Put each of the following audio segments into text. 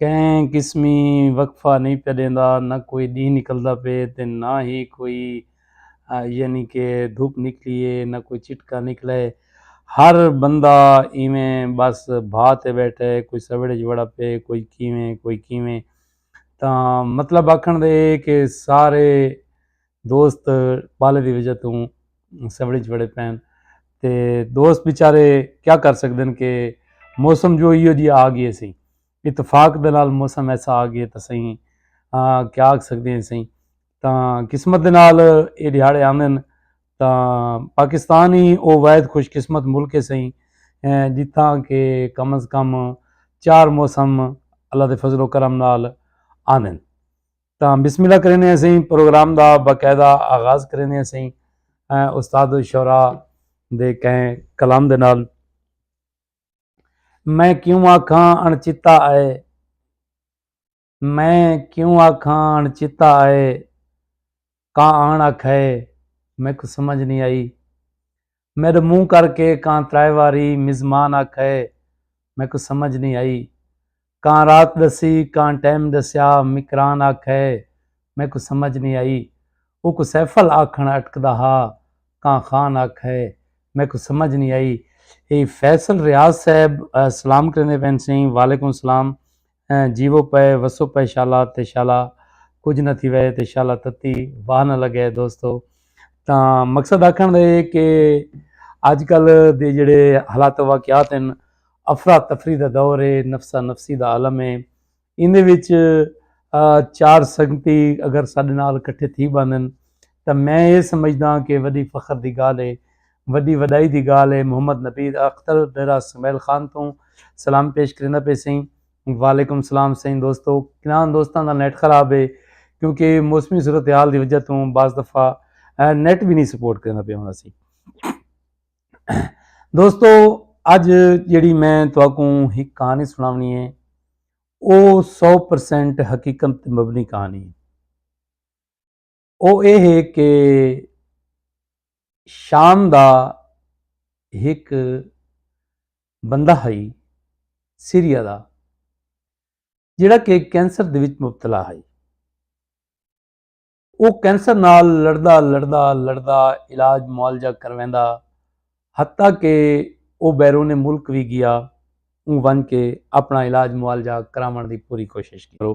کہیں قسمی وقفہ نئیں پیا ݙیندا، نہ کوئی ݙینہہ نکلدا پئے تے نہ ہی کوئی یعنی کہ دھپ نکلی اے، نہ کوئی چٹکا نکلا اے، ہر بندہ ایویں ٻس بھا تے ٻیٹھا اے، کوئی سوڑ اچ وڑا پئے، کوئی کیویں کوئی کیویں تاں مطلب آکھݨ دا اے کہ سارے دوست پالے دی وجہ توں سوڑی چ بڑے پین تے دوست بیچارے کیا کر سکدے کہ موسم جو ایو جی آ گئے سیں اتفاق دے نال موسم ایسا آ گئے تے سیں کیا آکھ سکدے ہیں سیں تاں قسمت دے نال اے دیہاڑے آندے ہیں تاں پاکستان ہی او واحد خوش قسمت ملک ہے سیں جتھاں کہ کم از کم چار موسم اللہ دے فضل و کرم نال آندے ہیں۔ تاں بسم اللہ کریندے ہیں سہی پروگرام دا باقاعدہ آغاز کریندے ہیں سہی استاد الشعراء دے کہیں کلام دے نال میں کیوں آکھاں اݨچتا آئے میں کیوں آکھاں اݨچتا آئے کاں آن آکھئے، میکوں سمجھ نی آئی۔ میڈو منہ کر کے کاں ترائے واری مزمان آکھئے، میکوں سمجھ نی آئی۔ کاں رات ڈسی، کاں ٹیم ڈسیا، مکران آکھئے، میکوں سمجھ نی آئی۔ اوکوں سیفل آکھن اٹکدا ہا، کاں خان آکھئے، میکوں سمجھ نی آئی۔ ایہ فیصل ریاض صاحب سلام کریندے پئن سئیں۔ وعلیکم سلام۔ ہیں جیوو پئے وسو پئے شالا تے شالا کجھ نہ تھی وئے تے شالا تتی واہ نہ لگے دوستو تاں مقصد آکھن دے کہ اج کل دے جڑے حالات واقعات ہیں افرا تفری دا دور ہے نفسا نفسی دا عالم ہے ان دے وچ چار سنگتی اگر ساڈے نال کٹھے تھی باندن تاں میں یہ سمجھدا کہ وڈی فخر دی گال ہے وڈی وڈائی دی گالھ اے محمد نبی اختر ڈیرہ سمیل خان توں سلام پیش کریندا پئے سئیں وعلیکم سلام سئیں دوستو کنان دوستاں دا نیٹ خراب اے کیونکہ موسمی صورتحال دی وجہ توں بعض دفعہ نیٹ بھی نہیں سپورٹ کریندا پئے ہوندا سی دوستو اج جیڑی میں تواکوں ہک کہانی سناونی ہے او سو پرسینٹ حقیقت مبنی کہانی ہے او اے ہے کہ شام دا ہک بندہ ہئی سیریا دا جیڑا کہ کینسر دے وچ مبتلا ہئی او کینسر نال لڑدا لڑدا لڑدا علاج معالجہ کرویندا حتیٰ کہ او بیرون ملک بھی گیا اون ون کے اپنا علاج معالجہ کراون دی پوری کوشش کرو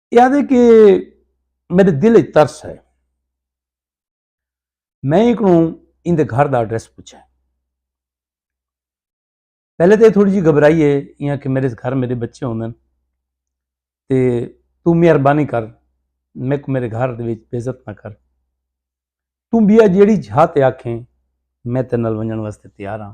یہ آدھے کہ میرے دل ایک ترس ہے میں ایک نو ان دے گھر دا ایڈریس پوچھا ہے پہلے تو یہ تھوڑی جی گھبرائی ہے یہاں کہ میرے گھر میرے بچے ہوندے ہیں تے تو مہربانی کر میں کو میرے گھر دے وچ بےزت نہ کر تو بیا جیڑی جھا تے آکھیں میں تے نال ونجن واسطے تیار ہاں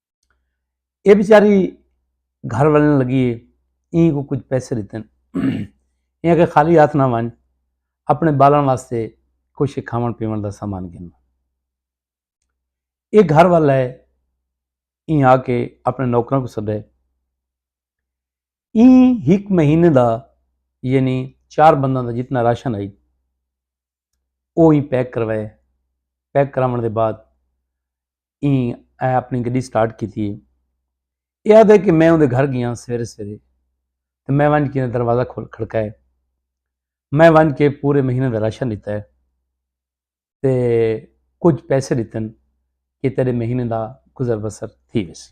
یہ بیچاری گھر ولن لگی ہے این کو کچھ پیسے دیتے ہیں یہ کہ خالی ہاتھ نہ ون اپنے بالن واسطے کچھ کھاون پیون دا سامان گن یہ گھر والا ہے این آ کے اپنے نوکروں کو سدے این ہک مہینے دا یعنی چار بندہ دا جتنا راشن آئی وہ ہی پیک کروائے پیک کراؤن دے بعد ایں اے اپنی گڈی سٹارٹ کیتی ہے اے آدھے کہ میں اوندے گھر گیا سویرے سویرے تے میں ونج کے دروازہ کھول کھڑکا ہے میں ونج کے پورے مہینے دا راشن لیتا ہے تے کچھ پیسے لیتن کہ تیرے مہینے دا گزر بسر تھی ویسی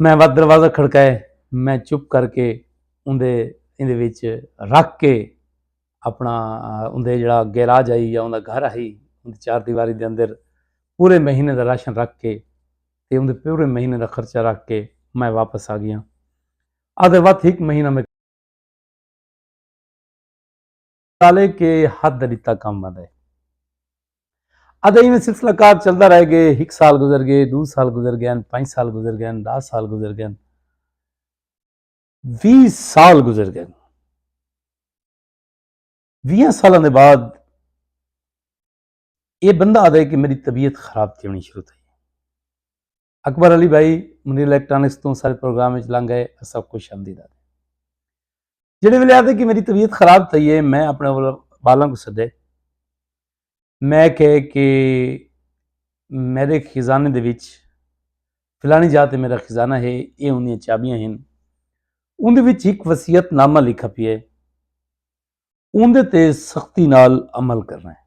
میں وت دروازہ کھڑکائے میں چپ کر کے اندے اندے وچ رکھ کے اپنا اندے جڑا گیراج آئی یا اندا گھر آئی اندے چار دیواری دے اندر پورے مہینے دا راشن رکھ کے تے اندے پورے مہینے دا خرچہ رکھ کے میں واپس آ گیا آدھے وقت ایک مہینہ میں تالے کے حد دا ڈتا کم بند ہے ادھے ایویں سلسلہ کار چلدا رہ گئے ہک سال گزر گئے دو سال گزر گئے پانچ سال گزر گئے دہ سال گزر گئے وی سال گزر گئے وی سال دے بعد یہ بندہ آدھے کہ میری طبیعت خراب تھی ہونی شروع تھی اکبر علی بھائی منیر الیکٹرانکس تو سارے پروگرام میں لنگ گئے سب خوش آمدید آتے جڑے ویلے آتے کہ میری طبیعت خراب تھی ہے میں اپنے بالوں کو سدے میں کہے کہ میرے خزانے دے وچ فلانی جا تے میرا خزانہ ہے یہ انہیں چابیاں ہیں ان دے وچ ایک وصیت نامہ لکھا پی ہے ان دے تے سختی نال عمل کرنا ہے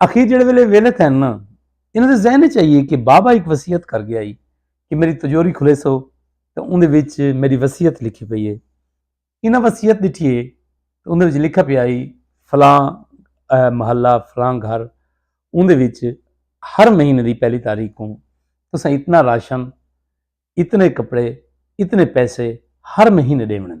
اخیر جڑے ویلے ویلے تھے نا انہوں نے ذہن چاہیے کہ بابا ایک وسیعت کر گیا ہی کہ میری تجوری کھلے سو تو اندھے وچ میری وسیعت لکھی پئی ہے انہوں وسیعت دیٹھی ہے تو اندھے وچ لکھا پیا ہی فلاں محلہ فلاں گھر اندھے وچ ہر مہینے دی پہلی تاریخ ہوں تو سا اتنا راشن اتنے کپڑے اتنے پیسے ہر مہینے دے منن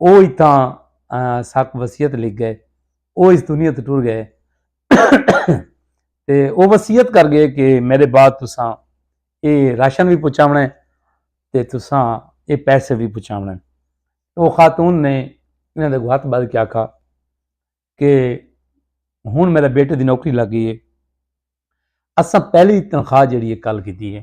او اتھاں ساک وصیت لکھ گئے او اس دنیا تو ٹر گئے تے او وصیت کر گئے کہ میرے بعد تساں اے راشن بھی پہنچاونا ہے تے تساں اے پیسے بھی پہنچاونا ہے او خاتون نے انہاں دے ہاتھ بھر کے آکھا کہ ہن میرے بیٹے دی نوکری لگ گئی ہے اساں پہلی تنخواہ جڑی ہے کل کیتی ہے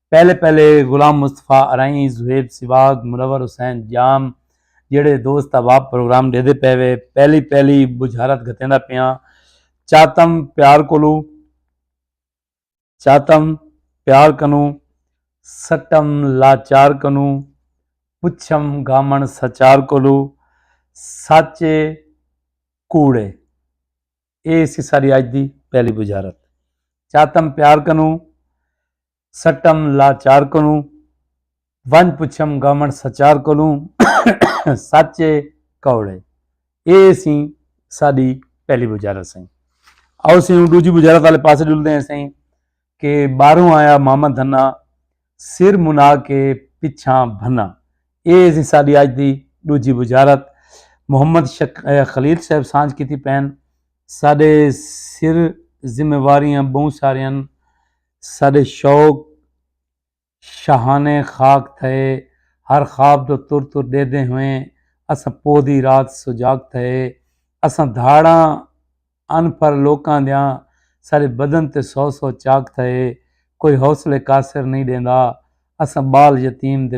پہلے پہلے غلام مصطفی ارائیں، زہیب سواگ، منور حسین ڄام جیڑھے دوست احباب پروگرام ݙیدے پئے وے پہلی پہلی بجھارت گھتیندا پیاں چاتم پیار کولو چاتم پیار کنوں سٹم لاچار کنوں پچھم گھامݨ سچار کولو سچ اے کوڑ اے۔ اے سی ساڈی اج دی پہلی بجارت چاتم پیار کنوں سٹم لاچار کنوں ونج پچھم گامن سچار کنوں سچ اے کوڑے اے سی ساڈی پہلی بجارت سائیں آؤ سی ہوں ڈوجی بجارت والے پاسے ڈلدے ہیں سائیں کہ ٻاہروں آیا ماما دھنا سر منا کے پچھاں بھنا اے ہے جی ساڈی اج دی ڈوجھی بجارت محمد خلیل صاحب سانجھ کیتی پین ساڈے سر ذمہ واریاں بہوں ساریاں ساڈے شوق شاہانے خاک تھئے ہر خواب دو تر تر ڈیدھیں ہوئیں اساں پوہ دی رات سجاگ تھئے اساں دھاڑاں ان پھر لوکاں دیاں ساڈے بدن تے سو سو چاک تھئے کوئی حوصلے قاصر نئیں ڈیندا اساں بال یتیم دے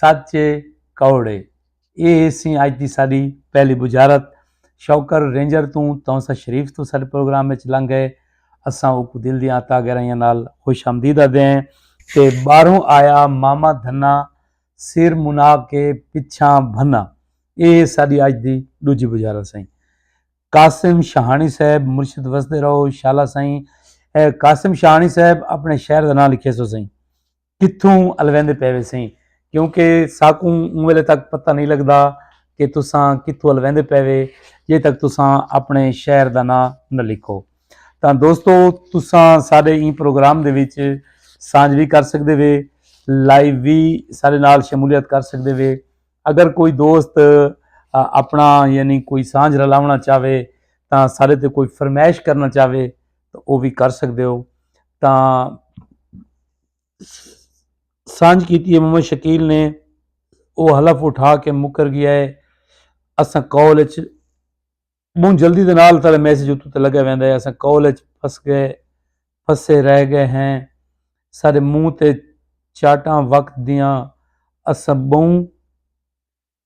سچ اے کوڑ اے۔ اے ہیسیں اج دی ساڈی پہلی بجارت۔ شوکر رینجر توں تونسہ شریف توں ساڈے پروگرام اچ لنگ گئے۔ اساں اوکوں دل دیاں عطا گہرائیاں نال خوش آمدید آدھدے ہیں۔ تے باہروں آیا ماما دھنا سر منا کے پچھاں بھنا۔ اے ہے ساڈی اج دی ڈوجھی بجارت سائیں۔ قاسم شاہانی صاحب مرشد وسدے رہو شالا سائیں۔ اے قاسم شاہانی صاحب اپنے شہر دا ناں لکھیسو سائیں۔ کتھوں الویندے پئے ویسیں کیونکہ ساکوں اوں ویلے تک پتہ نہیں لگدا کہ تساں کتھوں الویندے پئے وے جے تک تساں اپنے شہر دا ناں نہ لکھو تاں دوستو تساں سارے این پروگرام دے وچ سانج بھی کر سکدے وے لائیو بھی سارے نال شمولیت کر سکدے وے اگر کوئی دوست اپنا یعنی کوئی سانج رلاونا چاہے تاں سارے تے کوئی فرمائش کرنا چاہے تو وہ بھی کر سکدے ہو تاں سانجھ کیتی ہے محمد شکیل نے وہ حلف اٹھا کے مکر گیا ہے اساں کال اچ بہت جلدی دے نال تھا میسج اتو تے لگا ویندا ہے اساں کال اچ پھس گئے پھسے رہ گئے ہیں سارے منہ تے چاٹاں وقت دیاں اساں بہوں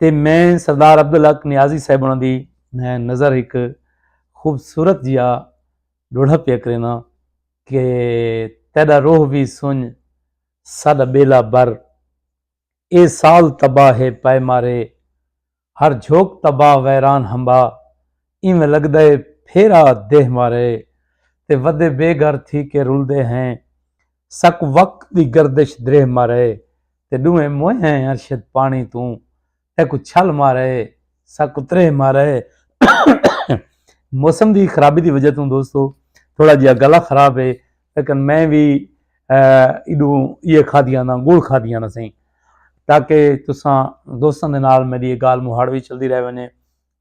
تے میں سردار عبدالحق نیازی صاحب انہاں دی نظر ہک خوبصورت جیا ڈوڑھا پیا کرینا کہ تیڈا روح وی سنج ساڈا بیلا بر اے سال تباہ ہے پائے مارے ہر جھوک تباہ ویران ہمبا اینویں لگدا ہے پھیرا دیہہ مارے تے ودے بے گھر تھی کے رلدے ہیں سک وقت دی گردش دریہہ مارے تے ڈوہیں موئے ہیں ارشد پانی توں تیکوں چھل مارے سک اتریہہ مارے موسم دی خرابی دی وجہ توں دوستو تھوڑا جہا گلا خراب ہے لیکن میں بھی ایڈو یہ کھا دیا نا گڑ کھا دیا نا سہیں تاکہ تساں دوستان دے نال میری یہ گال مہاڑ بھی چل دی رہے ونے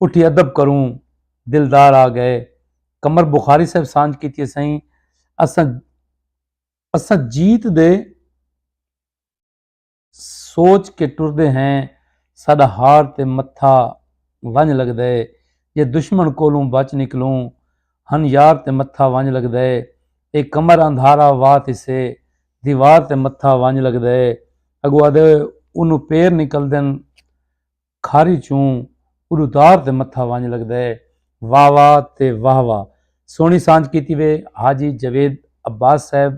اٹھی ادب کروں دلدار آ گئے قمر بخاری صاحب سانج کیتی سائیں اساں اساں جیت دے سوچ کے ٹردے ہیں ساڈا ہار تے متھا ونج لگدا ہے جے دشمن کولوں بچ نکلوں ہن یار تے متھا ونج لگدا ہے اے قمر اندھارا وا تسے دیوار تے متھا ونج لگدا ہے اگو آدھے اونوں پیر نکل دن کھاری چوں اڈوتار تے متھا ونج لگدے۔ واہ واہ تے واہ واہ سوہنی سانجھ کیتی وے حاجی جاوید عباس صاحب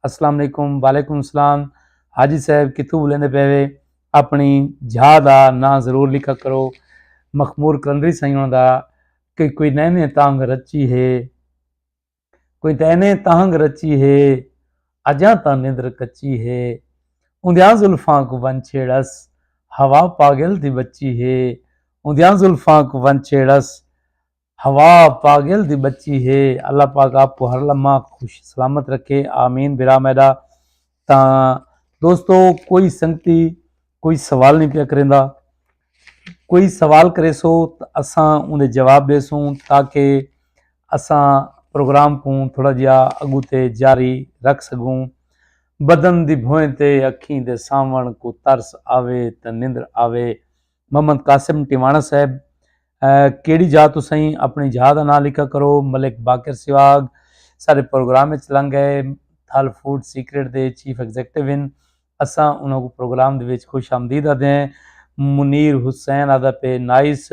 اسلام علیکم وعلیکم اسلام حاجی صاحب کتھوں بلیندے پئے وے اپنی جھا دا ناں ضرور لکھا کرو مخمور قلندری سائیں انہاں دا کوئی نئیں نئیں تانگھ رچی ہے۔ کوئی تاں اینے تہنگ رچی ہے اجاں تاں نندر کچی ہے اوندیاں زلفاں کوں ون چھیڑس ہوا پاگل دی بچی ہے اوندیاں زلفاں کوں ون چھیڑس ہوا پاگل دی بچی ہے اللہ پاک آپ کو ہر لمحہ خوش سلامت رکھے آمین برا میڈا تاں دوستو کوئی سنگتی کوئی سوال نہیں پیا کریندا کوئی سوال کرے سو تو اساں انہیں جواب دے سوں تاکہ اساں پروگرام کو تھوڑا جہا اگو تے جاری رکھ سکوں بدن دی بھوئیں تے اکھیں دے سامن کو ترس آوے تے نندر آوے محمد قاسم ٹیوانا صاحب کیڑی جا تو سائیں اپنی جا دا نام لکھا کرو ملک باقر سواگ سارے پروگرام اچ لنگ گئے تھل فوڈ سیکرٹ دے چیف ایگزیکٹو ان اساں انہاں کو پروگرام دے وچ خوش آمدید آدھے ہیں منیر حسین آدھا پہ نائس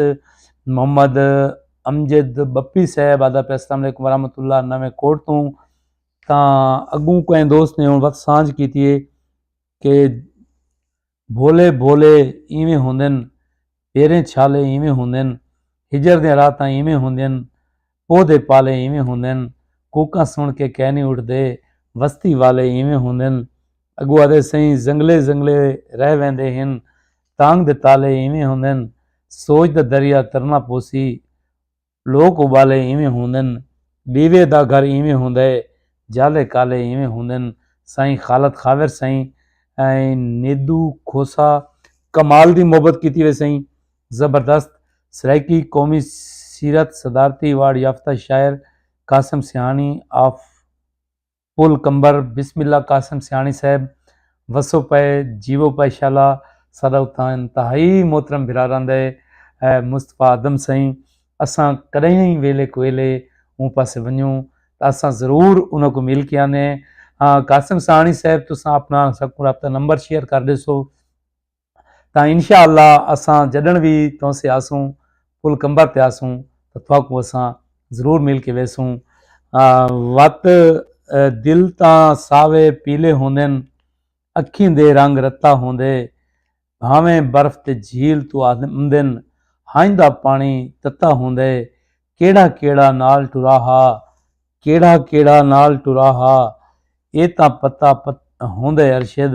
محمد امجد بپی صاحب آدھا پہ السلام علیکم ورحمۃ اللہ نویں کوٹ تو تاں اگوں کوئی دوست نے ہوں وقت سانج کیتی ہے کہ بھولے بھولے اینویں ہوندن پیریں چھالے اینویں ہوندن ہجر دیاں راتاں اینویں ہوندین پودھے پالے اینویں ہوندن کوکاں سݨ کے کینی اٹھدے وستی والے اینویں ہوندن اگو آدھے سئیں زنگلے زنگلے رہ ویندے ہن تانگ دے تالے اینویں ہوندن سوچ دا دریا ترنا پوسی لوک ابالے اینویں ہوندن ڈیوے دا گھر اینویں ہوندا ہے جالے کالے اینویں ہوندن سائیں خالد خاور سائیں نیدو کھوسہ کمال دی محبت کیتی ہوئے سائیں زبردست سرائیکی قومی سیرت صدارتی ایوارڈ یافتہ شاعر قاسم سیاہانی آف پل قمبر بسم اللہ قاسم سیاݨی صاحب وسو پئے جیوو پئے شالا ساڈا اتھاں انتہائی محترم بھرا رہندا ہے مصطفی آدم سئیں اساں کڈہیں ویلے کویلے اوں پاسے ونجوں تاں اساں ضرور انہاں کو مل کے آنے ہاں قاسم سیاݨی صاحب تساں اپنا اساں کو رابطہ نمبر شیئر کر ڈیسو تاں انشاء اللہ اساں جڈن وی تہنسے آسوں پل کمبر تے آسوں تاں تھاکوں اساں ضرور مل کے ویسوں وت دل تاں ساوے پیلے ہوندن اکھیں دے رنگ رتا ہوندے بھاویں برف تے جھیل تو آمدن ہنج دا پانی تتا ہوندے کیڑا کیڑا نال ٹرا ہا کیڑا کیڑا نال ٹرا ہا اے تاں پتا پت ہوندے ارشد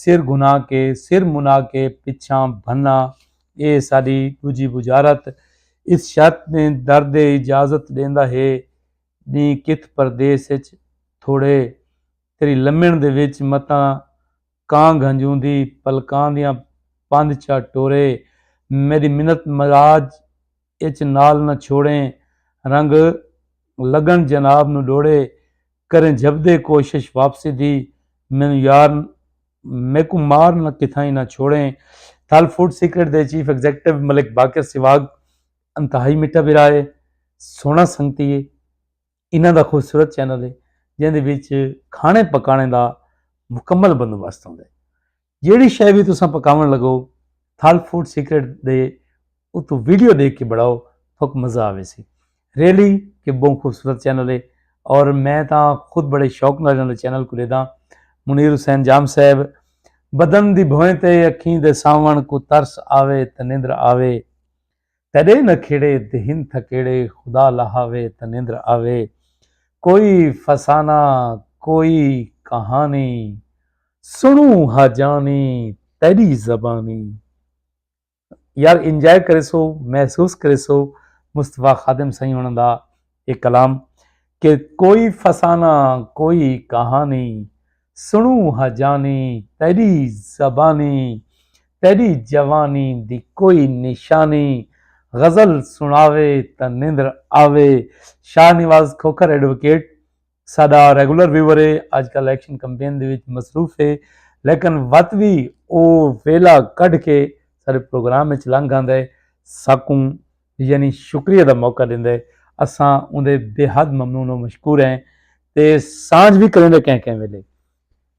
سر گھنا کے سر منا کے پچھاں بھنا اے ساڈی ڈوجھی بجارت اس شرط نے در دے اجازت ڈیندا ہے ڈیں کتھ پردیس اچ تھوڑے تیری لمن دے وچ متاں کاں گھنجوندی پلکاں دیاں پندھ چا ٹورے میڈی منت مراج اچ نال نہ چھوڑیں رنگ لگن جناب نو ڈوڑے کریں جھبدے کوشش واپسی دی مینوں یار میکوں مار نہ کتھائیں نہ چھوڑیں تھل فوڈ سیکرٹ دے چیف ایگزیکٹو ملک باقر سواگ انتہائی مٹھا بھرا ہے سونا سنگتی ہے انہاں دا خوبصورت چینل ہے جیندے وچ کھانے پکانے دا مکمل بندوبست ہوندے جیڑھی شے وی تساں پکاوݨ لگو تھل فوڈ سیکرٹ دے اتوں ویڈیو ݙیکھ کے بݨاؤ تھک مزہ آویسی۔ ریئلی کہ بہوں خوبصورت چینل ہے اور میں تاں خود بڑے شوق نال انہاں دے چینل کوں ݙیداں۔ منیر حسین جام صاحب بدن دی بھوئیں تے اکھیں دے ساوݨ کوں ترس آوے تے نندر آوے۔ تیݙے نہ کھیڑے دہن تھکیڑے خدا لہاوے تاں نندر آوے کوئی فسانہ کوئی کہانی سݨوں ہا جانی تیݙی زبانی یار انجوائے کریسو محسوس کریسو مصطفی خادم سائیں ہوݨاں دا اے کلام کہ کوئی فسانہ کوئی کہانی سنڑوں ہا جانی تیڈی زبانی تیڈی جوانی دی کوئی نشانی غزل سنڑاوے تاں نیندر آوے شاہ نواز کھوکھر ایڈووکیٹ ساڈا ریگولر ویور ہے اج کل ایکشن کمپین دے وچ مصروف ہے لیکن وت وی او ویلا کڈھ کے سارے پروگرام وچ لنگ آندا ہے ساکوں یعنی شکریہ دا موقع دیندا ہے اساں اوندے بے حد ممنون و مشکور ہیں تے سانجھ بھی کریں دے کہیں کہیں ویلے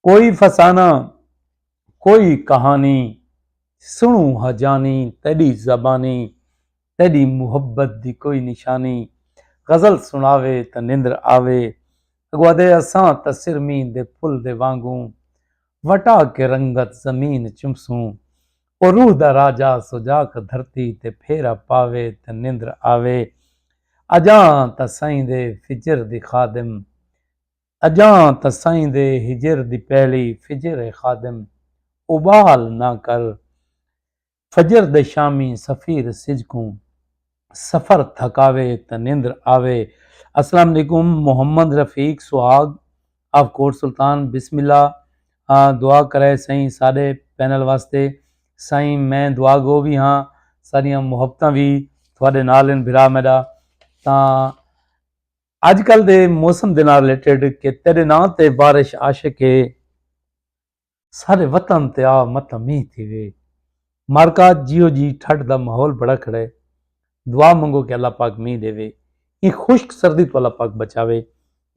کوئی فسانہ کوئی کہانی سنو ہا جانی تیڈی زبانی تیڈی محبت دی کوئی نشانی غزل سناوے تاں نندر آوے اگو آدھے اساں تاں سرمین دے پھل دے وانگوں وٹا کے رنگت زمین چمسوں او روح دا راجہ سجاک دھرتی تے پھیرا پاوے تاں نندر آوے اجاں تاں سائیں دے فجر دی خادم اجاں تاں سئیں دے ہجر دی پہلی فجر اے خادم ابال نہ کر فجر دے شامی سفیر سجھ کوں سفر تھکاوے تاں نندر آوے السلام علیکم محمد رفیق سہاگ آف کوٹ سلطان بسم اللہ دعا کرے سئیں ساڈے پینل واسطے سائیں میں دعا گو وی ہاں ساڈیاں محبتاں وی تھوڑے نال ہن بھرا میڈا تاں اج کل دے موسم دے نال ریلیٹڈ کہ تیرے ناں تے بارش عاشق اے سارے وطن تے آ متاں مینہ تھی وے مارکا جیو جی ٹھڈ دا ماحول بڑا کھڑے دعا منگو کہ اللہ پاک مینہ دے وے ایں خشک سردی تو اللہ پاک بچاوے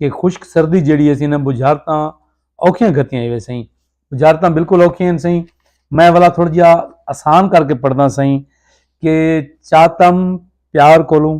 کہ خشک سردی جیڑی اسی نہ بجھارتاں اوکھیاں گھتیاں ایوے سائیں بجھارتاں بالکل اوکھیاں ہیں سائیں میں والا تھوڑا جہا آسان کر کے پڑھنا سائیں کہ چاتم پیار کولوں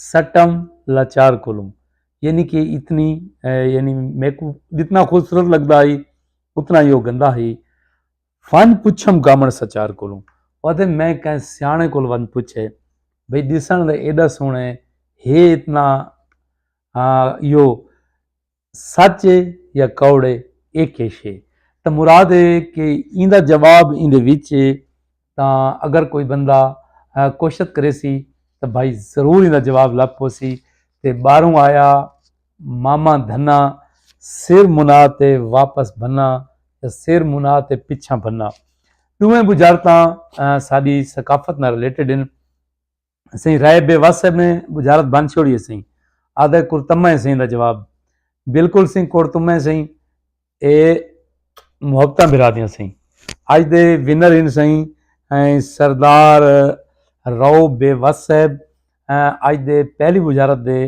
سٹم لاچار کولوں یعنی کہ اتنی یعنی میکو جتنا خوبصورت لگتا ہی اتنا ہی وہ گندا ہی فن پچھم گامن سچار کولوں پتے میں کہیں سیانے کول ون پچھے بھئی دیسان دے ایڈا سونے ہے اتنا یو سچ اے یا کوڑ اے اے کیش اے تاں مراد اے کہ ایندا جواب ایندے وچ اے تاں اگر کوئی بندہ کوشت کرے سی تاں بھائی ضرور ایندا جواب لب پوسی تے باروں آیا ماما دھنا سر منا تے واپس بھنا یا سر منا تے پچھاں بھنا دوہیں بجارتاں ساڈی ثقافت نال ریلیٹڈ ہن سئیں رائے بے وس صاحب نے بجھارت بن چھوڑی ہے سئیں آدھا کرتمہ ہے سئیں دا جواب بالکل سئیں کرتمہ ہے سئیں اے محبتاں بھرا دیاں سئیں اج دے ونر ان سئیں سردار رو بے وس صاحب اج دے پہلی بجھارت دے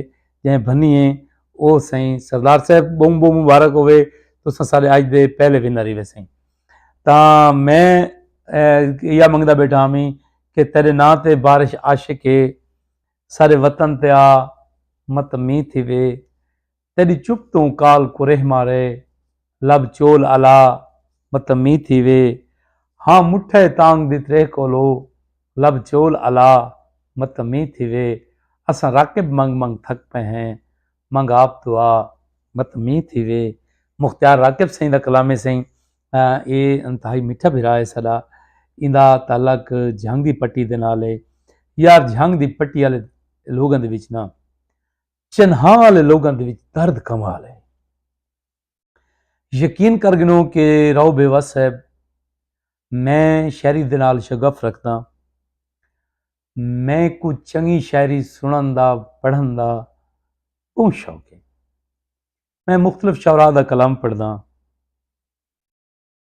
جہیں بھنی ہیں او سئیں سردار صاحب بہوں بہوں مبارک ہوئے تو سارے اج دے پہلے ونر ہی وے سئیں تاں میں یا منگدا بیٹھا ہمی کہ تیرے نا تے بارش عاشق ہے سارے وطن تے آ مت می تھی وے تیری چپ توں کال کریہ مارے لب چول الا مت می تھی وے ہاں مٹھے تانگ دی تریہ کولو لب چول الا مت می تھی وے اساں راکب منگ منگ تھک پہ ہیں منگ آپ دعا مت مینہ تھیوے مختیار راکب سائیں دا کلام ہے سائیں اے انتہائی میٹھا بھرا ہے ساڈا ایندا تعلق جھنگ دی پٹی دے نال ہے یار جھنگ دی پٹی والے لوگاں دے وچ نا چنہاں والے لوگاں دے وچ درد کمال ہے یقین کر گنو کہ راؤ بیوا صاحب میں شاعری دے نال شغف رکھدا میں کو چنگی شاعری سنن دا پڑھن دا بہت شوق ہے میں مختلف شعراء دا کلام پڑھدا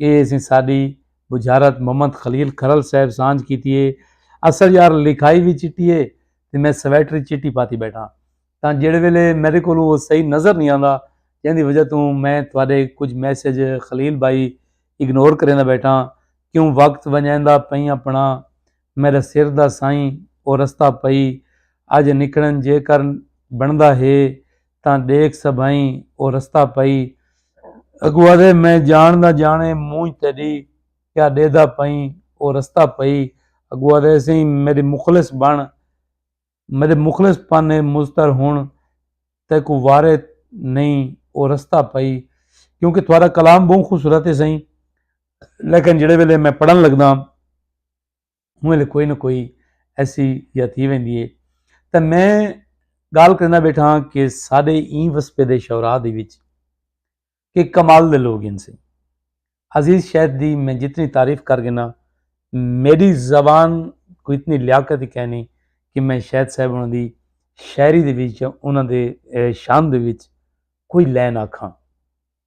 اے اسیں ساڈی بجھارت محمد خلیل کھرل صاحب سانجھ کیتی اے۔ اصل یار لکھائی وی چٹی اے تے میں سویٹر ای چٹی پاتی بیٹھاں تاں جیڑھے ویلے میڈے کولوں او صحیح نظر نی آندا جیندی وجہ توں میں تہاڈے کجھ میسج خلیل بھائی اگنور کریندا بیٹھاں کیوں وقت ونجیندا پئیں اپنڑاں میڈے سر دا سائیں او رستہ پئی اج نکھڑن جیکر بنڑدا ہے تاں ݙیکھ سبھئیں او رستہ پئی اڳوں آہدے میں جاݨ دا جاݨے مونجھ تیݙی کیا ݙیہدا پئیں او رستہ پئی اڳوں آہدے سئیں میݙے مخلص بݨ میݙے مخلص پن اے مضطر ہݨ تیکوں وارے نئیں او رستہ پئی کیونکہ تھوڑا کلام بہوں خوبصورت ہے سئیں لیکن جڑے ویلے میں پڑھن لگداں ہوں ویلے کوئی نہ کوئی ایسی یا تھی ویندی ہے تو میں گال کرنا بیٹھا ہاں کہ سارے این وسپے دے شعراء دے وچ کہ کمال دے لوگ ان سے عزیز شہد دی میں جتنی تعریف کر گنا میری زبان کو اتنی لیاقت ہی کہنی کہ میں شہد صاحب انہوں دی شاعری دے وچ انہوں دے شان دے وچ کوئی لین آکھاں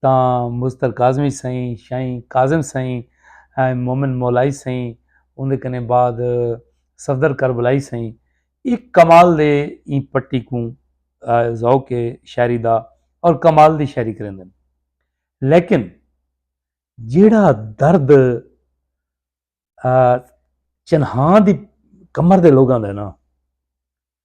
تاں مضطر کاظمی سئیں، شئیں کاظم سئیں، ایں مومن مولائی سئیں اوندے کنیں بعد صفدر کربلائی سئیں اک کمال دے ایں پٹی کوں ذوق شاعری دا اور کمال دی شاعری کریندن لیکن جیڑا درد چنہاں دی کمر دے لوگاں دے نا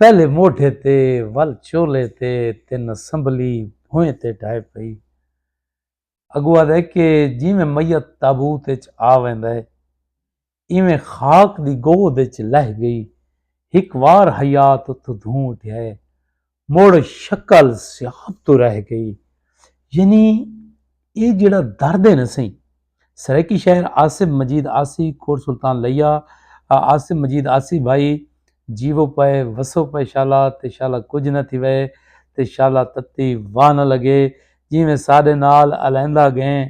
پہلے موڈھے تے ول چولے تے تن اسمبلی بھوئیں تے ڈھائے پئی اگو آدھے کہ جیویں میت تابوت اچ آ ویندا ہے ایویں خاک دی گود اچ لہ گئی ہک وار حیات اتھو دھوں اٹھیا ہے مڑ شکل سیاب تو رہ گئی یعنی یہ جڑا درد ہے نا سہی سرائیکی شاعر آصف مجید آسی کور سلطان لیا آصف مجید آسی بھائی جیو پائے وسو پائے شالا تے شالا کچھ نہ تھی وے تے شالا تتی واہ نہ لگے جی میں ساڈے نال الیندا گئیں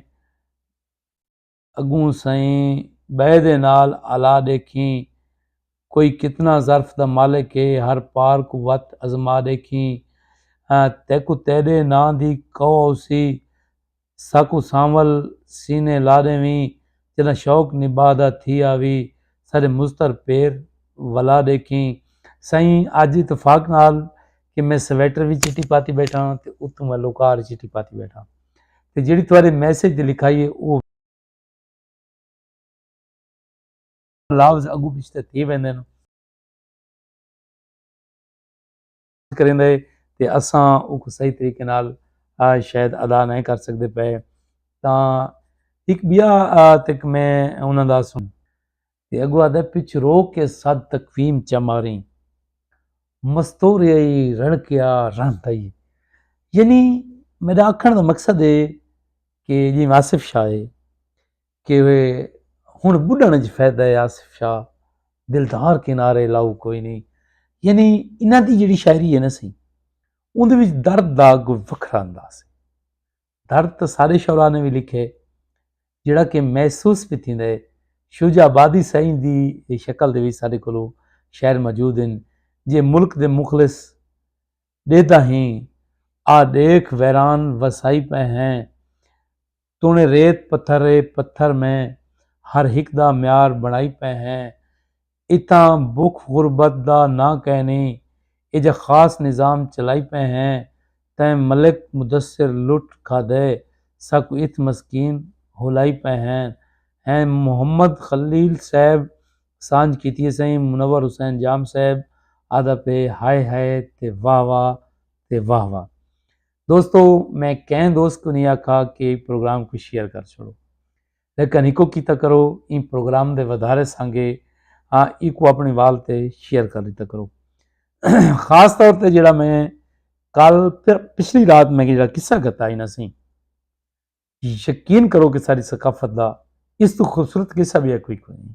اگوں سائیں بے دے نال الا دیکھیں کوئی کتنا ظرف دا مالک ہے ہر پار کوں وت ازما ڈیکھیں تیکوں تیڈے ناں دی قو اوسی ساکوں سانول سینے لا ڈیویں جڈاں شوق نباہ دا تھی آوی ساڈے مضطر پیر ولا ڈیکھیں سئیں اج اتفاق نال کہ میں سویٹر وی چٹی پاتی بیٹھاں تے اتوں میں لوکار چٹی پاتی بیٹھاں تے جیڑی تہاڈے میسج تے لکھائی ہے او لفظ اگو پچھتے تھی ویندے نو کریں دے تے اساں او کو صحیح طریقے نال شاید ادا نہیں کر سکتے پے تا ایک بیا تک میں انہاں دا سن تے اگو آدھے پچھ رو کے صد تقویم چماری مستور یہی رن کیا رن تائی یعنی میرا اکھن دا مقصد ہے کہ جی واصف شاہ ہے کہ وے ہن بڈھن اچ فائدہ ہے آصف شاہ دلدار کنارے لاؤ کوئی نہیں یعنی انہاں دی جڑی شاعری ہے نا سی اون دے وچ درد دا کوئی وکھرا انداز ہے درد تو سارے شعراء نے بھی لکھے جڑا کہ محسوس بھی تھیندا ہے شجاع آبادی سائیں دی شکل دے وچ سارے کولو شعر موجود ہیں جے ملک دے مخلص دیتا ہیں آ دیکھ ویران وسائی پہ ہیں توݨے ریت پتھر اے پتھر میں ہر ہک دا معیار بݨائی پئے ہیں اتھاں بکھ غربت دا ناں کینی اے جا خاص نظام چلائی پئے ہیں تیں ملک مدثر لٹ کھادے ساکوں اتھ مسکین ہولائی پئے ہیں ہیں محمد خلیل صیب سانجھ کیتی اے سئیں منور حسین جام صیب آہدا پئے ہائے ہائے تے واہ واہ تے واہ واہ دوستو میں کہیں دوست کو نہیں آکھا کہ پروگرام کو شیئر کر چھوڑو لیکن ایکو کیتا کرو ان پروگرام دے ودھارے سانگے ہاں ایکو اپنے وال تے شیئر کر لیتا کرو خاص طور تے جڑا میں کل پچھلی رات میں جڑا قصہ گتا ہی نہ سی یقین کرو کہ ساری ثقافت دا اس تو خوبصورت قصہ بھی ہے کوئی کوئی نہیں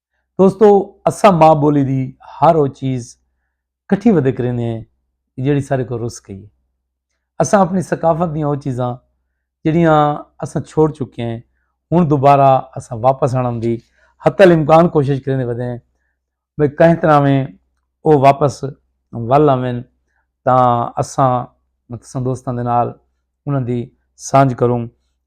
دوستو اساں ماں بولی دی ہر او چیز کٹھی ودے کریندے ہیں جیڑی سارے کو رس گئی ہے اساں اپنی ثقافت دیاں او چیزاں جڑیاں اساں چھوڑ چکے ہیں ہوں دوبارہ اساں واپس آن دی حتی الامکان کوشش کریں ودے ہیں بھائی کہیں طرح میں او واپس ول آویں تاں اساں مطلب دوستاں دے نال انہاں دی سانجھ کروں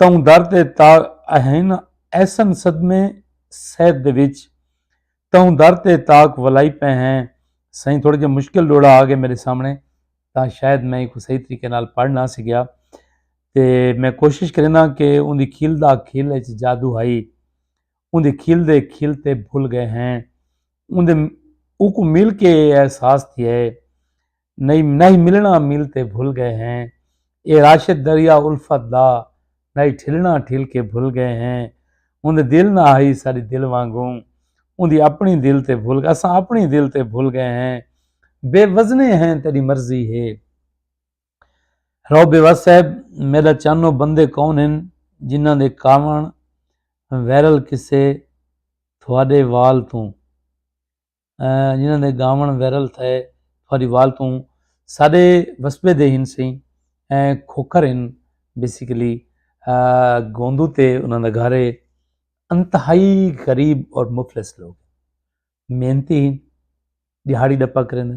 تئوں در تے تاغ اہین ایسن صدمے صحت دے وچ تئوں در تے تاغ ولائی پئے ہیں سائیں تھوڑا جہا مشکل ڈوڑا آ گئے میرے سامنے تاں شاید میں کو صحیح طریقے نال پڑھ نہ سکیا تے میں کوشش کرنا کہ ان دی کھیل دا کھیل اچ جادو ہائی ان دی کھیل دے کھیل تے بھول گئے ہیں ان دے اوکو مل کے احساس تھی ہے نہیں نہیں ملنا مل تے بھل گئے ہیں اے راشد دریا الفت دا نہیں ٹھلنا ٹھل کے بھل گئے ہیں ان دے دل نہ آئی ساری دل وانگوں ان دی اپنی دل تے بھل گئے اساں اپنی دل تے بھل گئے ہیں بے وزنے ہیں تیری مرضی ہے رو بے وز صاحب میرا چانو بندے کون ہیں جنہ دے کاون ویرل کسے تھوڑے وال توں جنہاں دے گاون ویرل تھئے تھوڑی وال توں ساڈے وسبے دے ہن سیں کھوکھر ہن بیسیکلی گوندو تے انہاں دا گھر ہے انتہائی غریب اور مفلس لوگ محنتی ہن دیہاڑی ڈپا کرن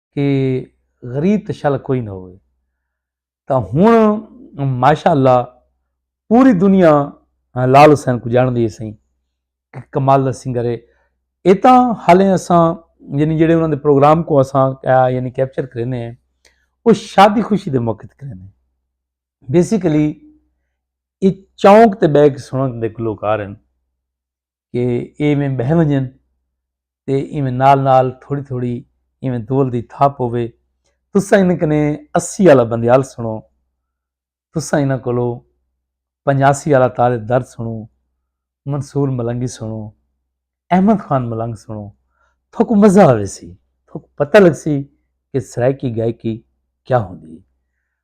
کہ غریب تے شل کوئی نہ ہوئے تا ہن ماشاءاللہ پوری دنیا لال حسین کو جان دی سائیں کہ کمال دا سنگر ہے اے تاں حالے اساں یعنی جڑے انہاں دے پروگرام کو اساں یعنی کیپچر کرنے ہیں وہ شادی خوشی دے موقع تے کرنے ہیں بیسیکلی اے چونک تے بیگ سنن دے گلوکار ہیں کہ ایہ ایویں بہہ ونجن تے ایویں نال نال تھوڑی تھوڑی ایویں دول دی تھاپ پووے۔ تساں انہاں کنے اسی آلا بندیال سنڑو، تساں انہاں کولو پنجاسی آلا تارے درد سنڑو، منصور ملنگی سنڑو، احمد خان ملنگ سنڑو، تھوکوں مزہ آویسی، تھوکوں پتہ لگسی کہ سرائیکی گائیکی کیا ہوندی ہے۔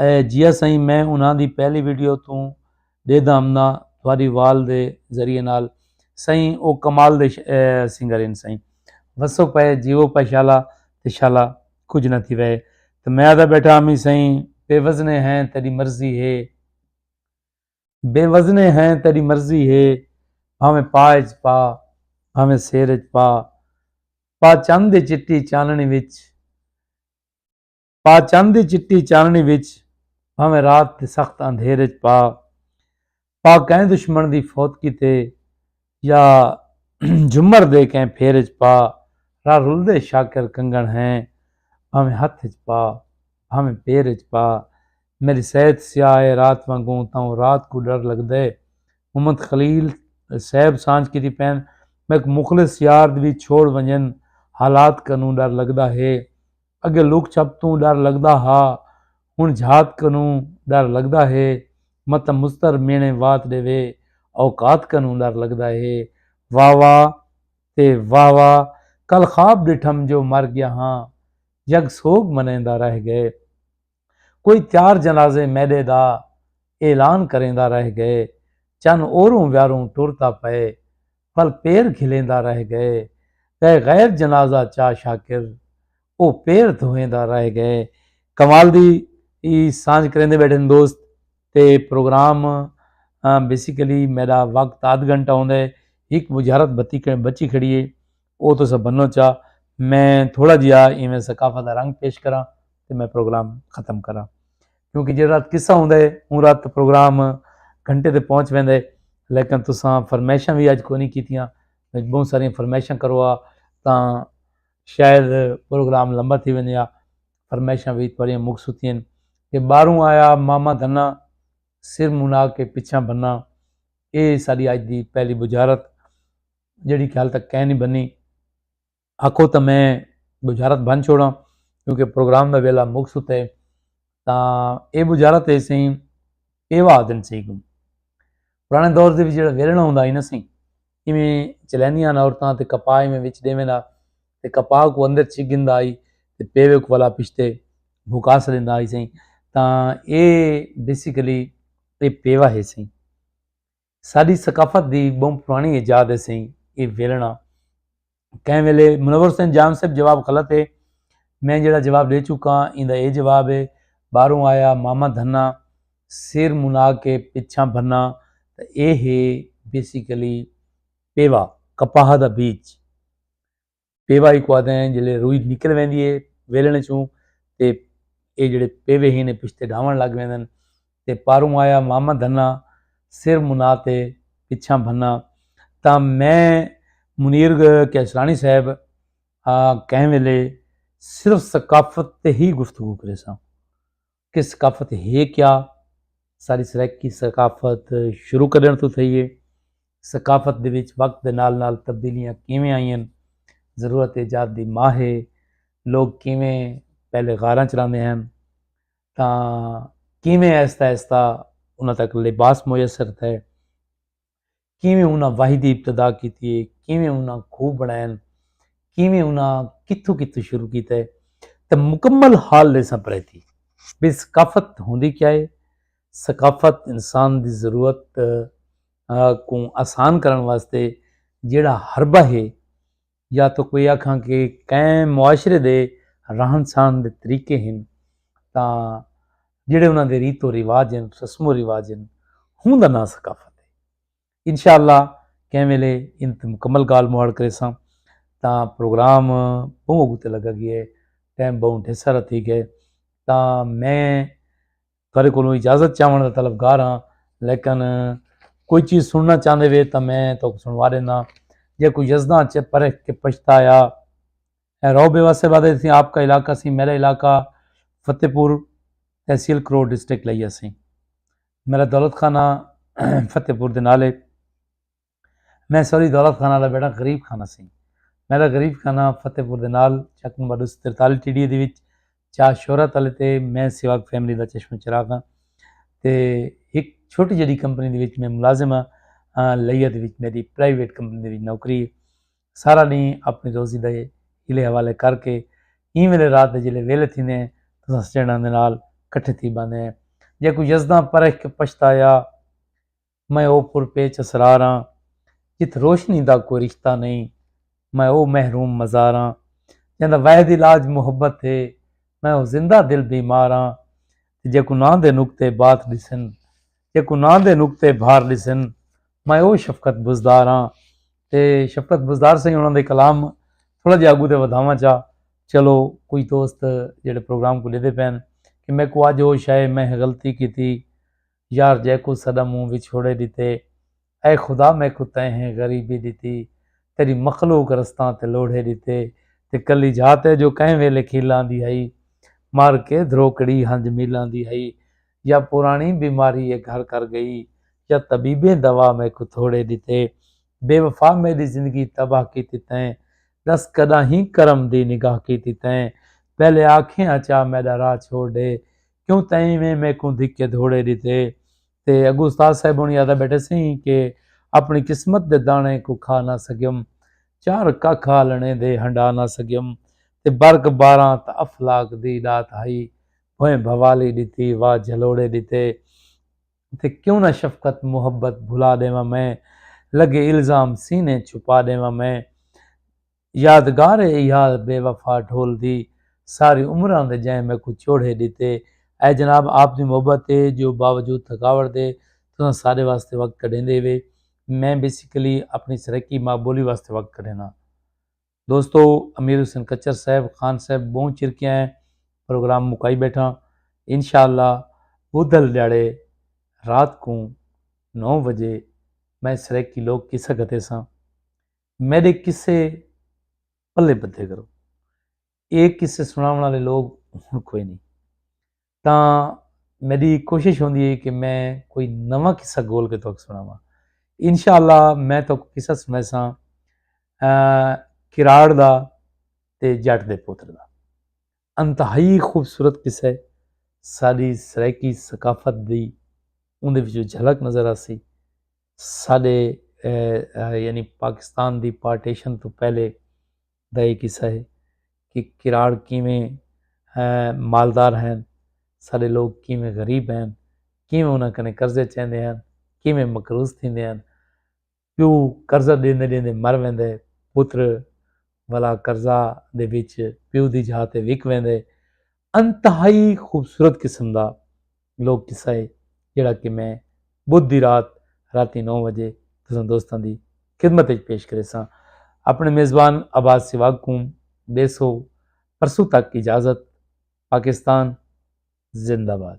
اے جیا سائیں میں انہاں دی پہلی ویڈیو توں ڈیدھا امنا تھواری وال دے ذریعے نال سائیں او کمال دے سنگر ان سائیں وسو پے جیو پے شالا تے شالا کچھ نہ تھی وے تے میں آدا بیٹھا امی سائیں بے وزنے ہیں تیری مرضی ہے بے وزنے ہیں تیری مرضی ہے بھاویں پاج پا بھاویں سیر پا پا چند چٹی چاننی وچ پا چن دی چٹی چانݨی وچ بھانویں رات دے سخت اندھیر اچ پا پا کہیں دشمن دی فوت کیتے یا جھمر دے کہیں پھیر اچ پا را رلدے شاکر کنگن ہیں بھانویں ہتھ اچ پا بھانویں پیر اچ پا میݙی صحت سیاہ اے رات وانگوں تاں رات کوں ݙر لڳدے محمد خلیل صیب سانجھ کیتی پئن میک مخلص یار وی چھوڑ ونڄن حالات کنوں ݙر لڳدا ہے اگے لک چھپ توں ڈر لگدا ہا ہن جھات کنوں ڈر لگدا ہے متہ مضطر میݨے وات ݙیوے اوقات کنوں ڈر لگدا ہے واہ واہ تے واہ واہ کل خواب ݙٹھم جو مر ڳیا ہاں یگ سوگ منیندا رہ ڳئے۔ کوئی چار جنازے میݙے دا اعلان کریندا رہ ڳئے چن اوروں ویاروں ٹر تاں پئے پھل پیر گھلیندا رہ ڳئے ڳئے غیر جنازہ چا شاکر او پیر دھویندا رہ ڳئے۔ کمال دی ای سانجھ کریندے ٻیٹھن دوست تے پروگرام بیسیکلی میݙا وقت ادھ گھنٹہ ہوندے ہک بجھارت بھتی بچی کھڑی اے او تساں بنو چا میں تھوڑا جیا ایویں ثقافت دا رنگ پیش کراں تے میں پروگرام ختم کراں کیونکہ جیڑا رات قصہ ہوندا ہے اوں رات پروگرام گھنٹے تے پہنچ ویندا ہے لیکن تساں فرمائشاں وی اج کوئی نہیں کیتیاں بہت ساری فرمائشاں کروا تاں شاید پروگرام لمبا تھی ویندے آ فرمائشاں وی تھوڑیاں مک سوتیاں کہ باہروں آیا ماما دھنا سر منا کے پچھاں بھنا اے ساڈی اج دی پہلی بجارت جیڑھی کہ حال تک کائے نی بنی آکھو تاں میں بجارت بن چھوڑاں کیونکہ پروگرام دا ویلا مک ستا ہے تاں اے بجارت ہے سیں پیوا آدن سی گوں پرانے دور دے وچ جیڑا ویلنا ہوندا ہی نہ سی ایویں چلیندیاں نہ عورتاں تے کپا ایویں وچ دیویں نہ تے کپا کو اندر چھ گندا آئی تے پیوے کو والا پشتے بھکا سلیندا آئی سیں تاں اے بیسیکلی اے پیوا ہے سیں ساݙی ثقافت دی ٻہوں پراݨی ایجاد ہے سئیں اے ویلݨا۔ کہیں ویلے منور حسین جان صاحب جواب غلط ہے۔ میں جیڑھا جواب ݙے چکاں ایندا اے جواب ہے۔ ٻاہروں آیا ماما دھنا سر منا کے پچھاں بھنا تاں اے ہے بیسیکلی پیوا کپاہ دا بیج۔ پیوا ہی کوا دیں جلے روئی نکل ویندی ہے ویلن چوں تے اے جڑے پیوے ہی نے پشتے ڈھاون لگ ویندن تے پاروں آیا ماما دھنا سر منا تے پچھاں بھنا تا میں منیر کیسرانی صاحب کہیں ویلے صرف ثقافت تے ہی گفتگو کرے ساں کہ ثقافت ہے کیا؟ ساری سرائیکی ثقافت شروع کرݨ توں تھئی ہے۔ ثقافت دے وچ وقت دے نال نال تبدیلیاں کیویں آئیاں ہن۔ ضرورت ایجاد دی ماء ہے۔ لوگ کیویں پہلے غاراں چ رہندے ہن۔ تاں کیویں آہستہ آہستہ انہاں تک لباس میسر تھئے۔ کیویں انہاں وحی دی ابتدا کیتی ہے، کیویں انہاں کھوہ بݨائن، کیویں انہاں کتھوں کتھوں شروع کیتا ہے تے مکمل حال ݙیساں پرائیتی بھئی ثقافت ہوندی کیا ہے، ثقافت انسان دی ضرورت کوں آسان کرݨ واسطے جیڑھا حربہ ہے یا تاں کوئی آکھاں کہ کئیں معاشرے دے رہن سہن دے طریقے ہن تاں جیڑھے انہاں دے ریت و رواج ہن، رسم و رواج ہن ہوں دا ناں ثقافت ہے۔ انشاء اللہ کئیں ویلے ان تے مکمل گالھ مہاڑ کریساں تاں پروگرام بہوں اگو تے لگا گئے ٹائم بہوں ڈھیسارا تھی گئے تاں میں تہاڈے کولوں اجازت چاہوݨ دا طلبگار ہاں لیکن کوئی چیز سننا چاہندے وے تاں میں تہاکوں سنوا ݙینا جے کوئی یزداں چ پرکھ کے پچھتایا اے رو بے واسے بعد اسی آپ کا علاقہ سی میرا علاقہ فتح پور تحصیل کروڑ ڈسٹرکٹ لئی اسی میرا دولت خانہ فتح پور دے نالے میں سوری دولت خانہ دا بیٹا غریب خانہ سیں میرا غریب خانہ فتح پور دے نال چک نمبر دو سو ترتالی ٹی ڈی اے دے وچ چا شہرت والے تے میں سیواگ فیملی دا چشمہ چراغ ہاں تے ایک چھوٹی جڑی کمپنی دے وچ میں ملازم ہاں لیا دے وچ میری پرائیویٹ کمپنی دے وچ نوکری ہے سارا نہیں اپنی روزی دے ہلے حوالے کر کے این ویلے رات دے جلے ویلے تھی نے تو سسٹینڈاں دے نال کٹھے تھی باندھے ہیں جے کوئی یزداں پرہ کے پشتایا میں او پر پیچ اسرار آں جتھ روشنی دا کوئی رشتہ نئیں میں او محروم مزار آں جیندا واحد علاج محبت ہے میں او زندہ دل بیمار آں تے جیکوں ناں دے نقطے بات ڈسن جیکوں ناں دے نقطے بھار ڈسن میں او شفقت بزدار آں تے شفقت بزدار سئیں انہاں دے کلام تھوڑا جہا اگوں تے ودھاواں چا چلو کچھ دوست جڑے پروگرام کو ڈیندے پئن کہ میکوں اج ہوش آئے میں غلطی کیتی یار جیکوں سݙا منہ وچھوڑے ݙتے اے خدا میکوں تیں ہیں غریبی ݙتی تیݙی مخلوق رستاں تے لوڑھے ݙتے تے کلی جھا تے جو کہیں ویلے کھیل آندی ہئی مر کے دھروکڑی ہنج مل آندی ہئی یا پراݨی بیماری اے گھر کر ڳئی یا طبیبیں دوا میکوں تھوڑے ݙتے بے وفا میݙی زندگی تباہ کیتی تیں ݙس کݙاہیں کرم دی نگاہ کیتی تیں پہلے آکھیں اچا میݙا راہ چھوڑ ݙے کیوں تئیں ایویں میکوں دھکے دھوڑے ڈتے تے اگوں استاد صاحب ہونی آدا بیٹھے سیں کہ اپنی قسمت دے دانے کو کھا نہ سکیم چار ککھ آلنے دے ہنڈا نہ سکیم تے برک باراں تاں افلاک دی ڈات ہئی بھویں بھوالی ڈتی وا جھلوڑے ڈتے تے کیوں نہ شفقت محبت بھلا ڈیواں میں لگے الزام سینے چھپا ڈیواں میں یادگار اے ایا بے وفا ڈھول دی ساری عمراں دے جئیں میکوں چوڑھے ڈتے اے جناب آپ دی محبت اے جو باوجود تھکاوٹ دے تساں سارے واسطے وقت کڈھیندے وے میں بیسیکلی اپنی سرائیکی ماں بولی واسطے وقت کڈھینداں دوستو امیر حسین کچر صاحب خان صاحب بہوں چر کیا اے پروگرام مکائی بیٹھاں انشاءاللہ بدھل ڈیاڑے رات کوں نو وجے میں سرائیکی لوک کسہ گھتے ساں میڈے قصے پلے بدھے کرو۔ اے قصے سناون آلے لوگ ہن کوئی نئیں۔ تاں میڈی کوشش ہوندی ہے کہ میں کوئی نواں قصہ گول کے تہاکوں سناواں۔ انشاءاللہ میں تہاکوں قصہ سنائیساں کراڑ دا تے جٹ دے پتر دا۔ انتہائی خوبصورت قصہ ہے ساڈی سرائیکی ثقافت دی اوندے وچوں جھلک نظر آسی ساڈے یعنی پاکستان دی پارٹیشن تو پہلے دا یہ قصہ ہے کہ کراڑ کیویں مالدار ہیں سارے لوگ کیویں غریب ہیں کیویں انہاں کنے قرضے چیندے ہیں کیویں مقروض تھیندے ہیں پیو قرضہ ݙیندے ݙیندے مر ویندے، پتر ولا قرضہ دے وچ پیو دی جاہ تے وک ویندے۔ انتہائی خوبصورت قسم دا لوک قصہ ہے جیڑھا کہ میں بدھ دی رات راتی نو وجے تساں دوستاں دی خدمت وچ پیش کریساں۔ اپݨے میزبان عباس سواڳ کوں ݙیسو پرسوں تک اجازت۔ پاکستان زندہ باد۔